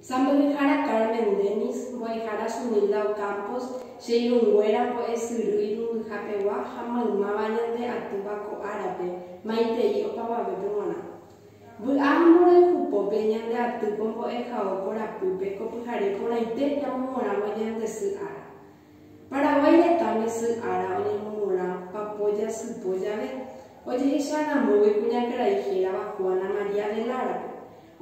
Sa mbo'ehára Carmen Denis, mbo'ehára Sunilda Ocampos, che irũnguéra mbo'esyry irũmbyhapegua ha maymáva ñande atýva ko árape, maitei opavavépe g̃uarã. Vy'a ha mborayhu pópe ñande atýko mbo'ehao korapýpe ko pyhare porãite ñamomorãvo ñande sy ára. Paraguái retãme sy ára oñemomorã papo jasypo jave, ojehecha ramógui kuñakarai hérava Juana María de Lara-pe.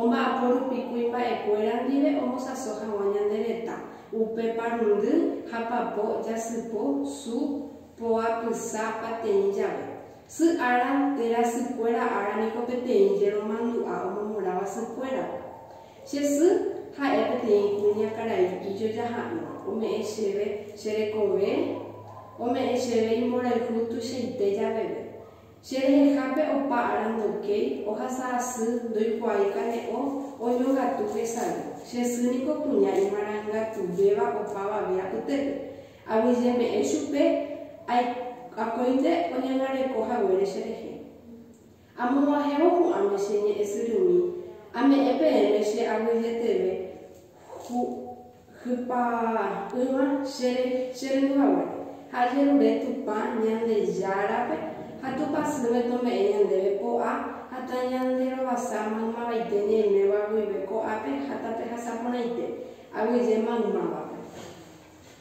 Omba'apo rupi kuimba'ekuéra ndive omosãso hag̃ua ñande retã, upe parundy ha papo jasypo su poapysa pateĩ jave. Sy ára térã sykuéra ára niko peteĩ jeromandu'a omomoráva sykuérape. Che sy ha'e peteĩ kuña karai ijoja ha'ỹva, ome'ẽ chéve che rekove, ome'ẽ chéve imborayhu tuichaite javeve. Che rehehápe opa ára ndokéi, ohasa asy, ndoikuaái kane'õ, oñongatu hesay. Che sy niko kuña imarangatuvéva opavave apytépe. Aguyjeme'ẽ chupe, Akóinte oñangareko haguére cherehe. Amog̃uahẽvo ko'áme che ñe'ẽ syrymí, ame'ẽ peẽme che aguyjeteve hypa'ỹva chere cherendu haguére, ha ajerure Tupã Ñandejárape ha Tupã sỹme tome'ẽ ñandéve po'a ha tañanderovasa maymávaite ñaiméva guive ko'ápe ha tapehasa porãite, aguyje maymávape.